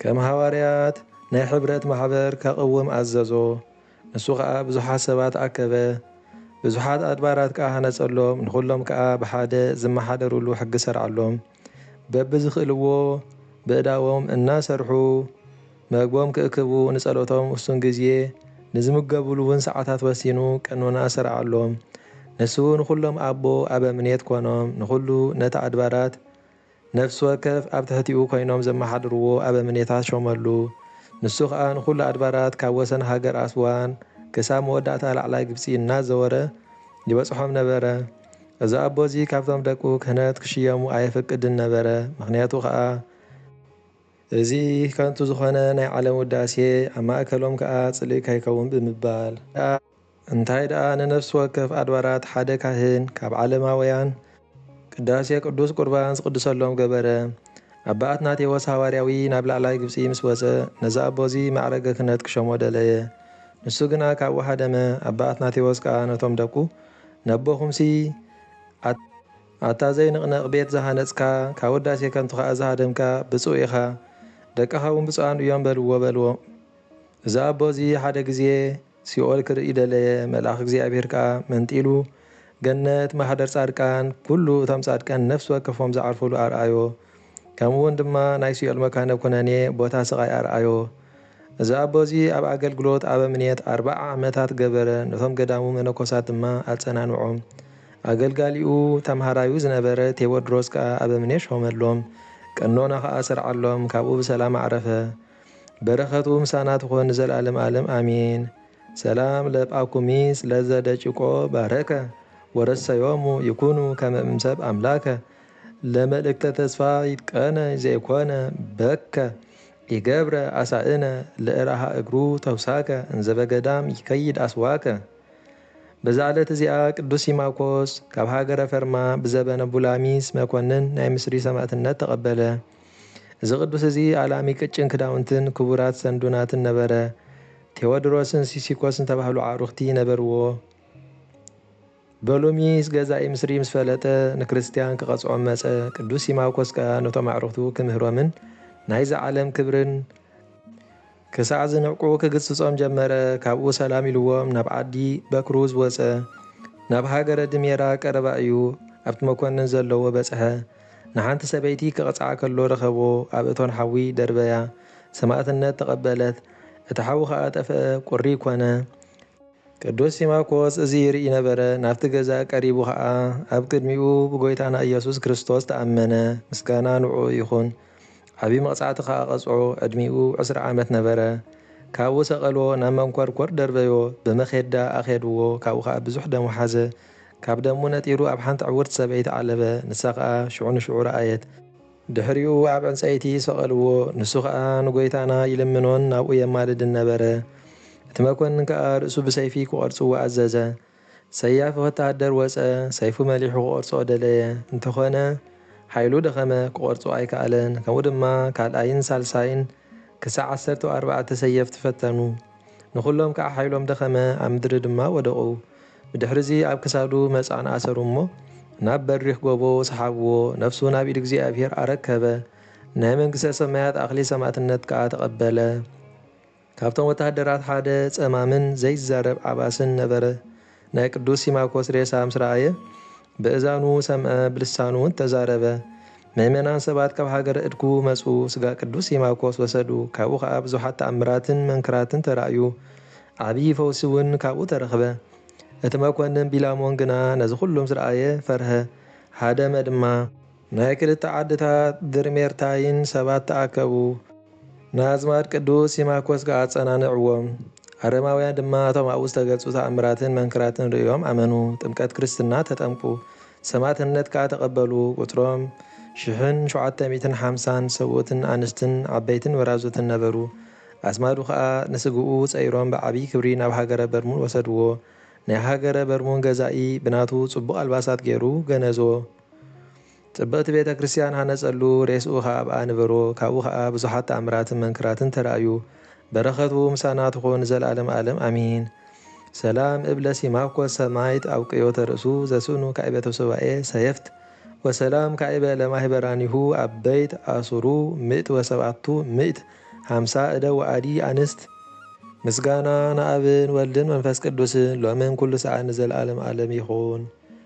ከም ሃዋርያት ናይ ሕብረት ማሕበር ከቕውም ኣዘዞ፣ ንሱ ከኣ ብዙሓት ሰባት ኣከበ፣ ብዙሓት ኣድባራት ከኣ ሃነጸሎም፣ ንኹሎም ከኣ ብሓደ ዝመሓደሩሉ ሕጊ ሰርዓሎም፣ በብዝኽእልዎ በእዳዎም እናሰርሑ መግቦም ክእክቡ፣ ንጸሎቶም ውሱን ግዜ፣ ንዝምገቡሉውን ሰዓታት ወሲኑ ቀኖና ሰርዓሎም፣ ንሱ ንኹሎም ኣቦ ኣበምኔት ኮኖም፣ ንኹሉ ነቲ ኣድባራት። ነፍሲ ወከፍ ኣብ ትሕቲኡ ኮይኖም ዘመሓድርዎ ኣበምኔታት ሾመሉ። ንሱ ኸኣ ንዅሉ ኣድባራት ካብ ወሰን ሃገር ኣስዋን ክሳብ መወዳእታ ላዕላይ ግብጺ እናዘወረ ይበጽሖም ነበረ። እዚ ኣቦ እዚ ካብቶም ደቁ ክህነት ክሽየሙ ኣየፍቅድን ነበረ፣ ምኽንያቱ ኸኣ፣ እዚ ከንቱ ዝዀነ ናይ ዓለም ውዳሴ ኣብ ማእከሎም ከኣ ጽልኢ ከይከውን ብምባል። እንታይ ደኣ ንነፍሲ ወከፍ ኣድባራት ሓደ ካህን ካብ ዓለማውያን ቅዳሴ ቅዱስ ቁርባን ዝቅድሰሎም ገበረ። ኣባ ኣትናቴዎስ ሃዋርያዊ ናብ ላዕላይ ግብጺ ምስ ወጸ ነዚ ኣቦዚ ማዕረገ ክህነት ክሾሞ ደለየ። ንሱ ግና ካብኡ ሃደመ። ኣባ ኣትናቴዎስ ከኣ ነቶም ደቁ ነቦኹምሲ ኣታ ኣታ ዘይንቕነቕ ቤት ዝሃነጽካ ካብ ውዳሴ ከንቱ ከኣ ዝሃደምካ ብጹእ ኢኻ ደቅኻውን ብጹኣን እዮም በልዎ በልዎም። እዚ ኣቦዚ ሓደ ግዜ። ሲኦል ክርኢ ደለየ መልኣኽ እግዚኣብሔር ከኣ መንጢሉ ገነት ማኅደር ጻድቃን ኩሉ እቶም ጻድቃን ነፍሲ ወከፎም ዝዓርፉሉ ኣርኣዮ ከምኡውን ድማ ናይ ሲኦል መካነ ኩነኔ ቦታ ስቓይ ኣርኣዮ እዚ ኣቦ እዚ ኣብ ኣገልግሎት ኣበምኔት ኣርብዓ ዓመታት ገበረ ነቶም ገዳሙ መነኮሳት ድማ ኣጸናንዖም ኣገልጋሊኡ ተምሃራዩ ዝነበረ ቴዎድሮስ ከኣ ኣበምኔት ሾመሎም ቀኖና ከኣ ሰርዓሎም ካብኡ ብሰላም ኣዕረፈ በረከቱ ምሳና ትኹን ንዘልኣለም ኣለም ኣሜን። ሰላም ለጳኩሚስ ለዘ ደጭቆ ባረከ ወረሰዮሙ ይኩኑ ከመ እምሰብ ኣምላከ ለመልእክተ ተስፋ ይትቀነ ዘይኮነ በከ ኢገብረ ኣሳእነ ለእራሃ እግሩ ተውሳከ እንዘ በገዳም ይከይድ ኣስዋከ በዛ ዕለት እዚኣ ቅዱስ ሲማኮስ ካብ ሃገረ ፈርማ ብዘበነ ቡላሚስ መኮንን ናይ ምስሪ ሰማእትነት ተቐበለ። እዚ ቅዱስ እዚ ኣላሚ ቅጭን ክዳውንትን ክቡራት ሰንዱናትን ነበረ። ቴዎድሮስን ሲሲኮስን ዝተባህሉ ኣዕሩኽቲ ነበርዎ። በሉሚስ ገዛኢ ምስሪ ምስ ፈለጠ ንክርስትያን ክቐጽዖም መጸ። ቅዱስ ሲማኮስ ከኣ ነቶም ኣዕሩኽቱ ክምህሮምን ናይዚ ዓለም ክብርን ክሳዕ ዝንዕቁ ክግስጾም ጀመረ፣ ካብኡ ሰላም ኢልዎም ናብ ዓዲ በክሩዝ ወጸ። ናብ ሃገረ ድሜራ ቀረባ እዩ፣ ኣብቲ መኮንን ዘለዎ በጽሐ። ንሓንቲ ሰበይቲ ክቕጽዓ ከሎ ረኸቦ፣ ኣብ እቶን ሓዊ ደርበያ፣ ሰማእትነት ተቐበለት። እቲ ሓዊ ኸኣ ጠፍአ፣ ቍሪ ኰነ። ቅዱስ ሲማኮስ እዚ ይርኢ ነበረ፣ ናብቲ ገዛ ቀሪቡ ኸኣ ኣብ ቅድሚኡ ብጐይታና ኢየሱስ ክርስቶስ ተኣመነ፣ ምስጋና ንዕኡ ይኹን። ዓቢ መቅጻዕቲ ከኣ ቀጽዖ ዕድሚኡ ዕስራ ዓመት ነበረ ካብኡ ሰቀልዎ ናብ መንኮርኮር ደርበዮ ብመኼዳ ኣኼድዎ ካብኡ ከኣ ብዙሕ ደም ወሓዘ ካብ ደሙ ነጢሩ ኣብ ሓንቲ ዕውርቲ ሰበይቲ ዓለበ ንሳ ከኣ ሽዑ ንሽዑ ረኣየት ድሕሪኡ ኣብ ዕንጸይቲ ሰቀልዎ ንሱ ከኣ ንጎይታና ይልምኖን ናብኡ የማልድን ነበረ እቲ መኮንን ከኣ ርእሱ ብሰይፊ ክቆርጽዎ ኣዘዘ ሰያፊ ወተሃደር ወጸ፣ ሰይፉ መሊሑ ክቖርጾ ደለየ፣ እንተኾነ ሓይሉ ደኸመ፣ ክቖርጾ ኣይከኣለን፣ ከምኡ ድማ ካልኣይን ሳልሳይን ክሳዕ ዓሰርተው ኣርባዕተ ሰየፍቲ ፈተኑ፣ ንኹሎም ከኣ ሓይሎም ደኸመ፣ ኣብ ምድሪ ድማ ወደቑ፣ ብድሕርዚ ኣብ ክሳዱ መጻን ኣሰሩ እሞ ናብ በሪኽ ጎቦ ሰሓብዎ፣ ነፍሱ ናብ ኢድ እግዚኣብሄር ኣረከበ፣ ናይ መንግሥተ ሰማያት ኣኽሊል ሰማእትነት ከኣ ተቐበለ። ካብቶም ወተሃደራት ሓደ ጸማምን ዘይዛረብ ዓባስን ነበረ። ናይ ቅዱስ ሲማኮስ ሬሳ ምስ ረኣየ፣ በእዛኑ ሰምዐ፣ ብልሳኑውን ተዛረበ። ምእመናን ሰባት ካብ ሃገረ እድኩ መጹ፣ ስጋ ቅዱስ ሲማኮስ ወሰዱ፣ ካብኡ ኸኣ ብዙሓት ተኣምራትን መንክራትን ተራእዩ፣ ዓብዪ ፈውሲውን ካብኡ ተረኽበ። እቲ መኰንን ቢላሞን ግና ነዚ ዅሉ ምስ ረኣየ ፈርሀ፣ ሀደመ ድማ። ናይ ክልተ ዓድታት ድርሜርታይን ሰባት ተኣከቡ። ንኣዝማድ ቅዱስ ሲማኮስ ከኣ ኣጸናንዕዎም። ኣረማውያን ድማ እቶም ኣብኡ ዝተገልጹ ተኣምራትን መንክራትን ርእዮም ኣመኑ፣ ጥምቀት ክርስትና ተጠምቁ፣ ሰማእትነት ከኣ ተቐበሉ፣ ቍጽሮም ሽሕን ሸውዓተ ሚእትን ሓምሳን ሰብኡትን ኣንስትን ዓበይትን ወራዙትን ነበሩ። ኣዝማዱ ከኣ ንስግኡ ጸይሮም ብዓቢይ ክብሪ ናብ ሃገረ በርሙን ወሰድዎ። ናይ ሃገረ በርሙን ገዛኢ ብናቱ ጽቡቕ ኣልባሳት ገይሩ ገነዞ። ጽብቕቲ ቤተ ክርስቲያን ሃነጸሉ፣ ሬስኡ ኸኣ ኣብኣ ኣንበሮ፣ ካብኡ ኸኣ ብዙሓት ተኣምራትን መንክራትን ተራእዩ። በረኸቱ ምሳና ትኹን ንዘለዓለም ኣለም ኣሚን። ሰላም እብ ለሲማኮስ ሰማይት ኣውቅዮተ ርእሱ ዘስእኑ ካዕበተ ሱባኤ ሰየፍት ወሰላም ካዕበ ለማህበራኒሁ ኣበይት ኣሱሩ ምእት ወሰብኣቱ ምእት ሃምሳ እደ ወኣዲ ኣንስት ምስጋና ንኣብን ወልድን መንፈስ ቅዱስን ሎምን ኩሉ ሰዓት ንዘለዓለም ኣለም ይኹን።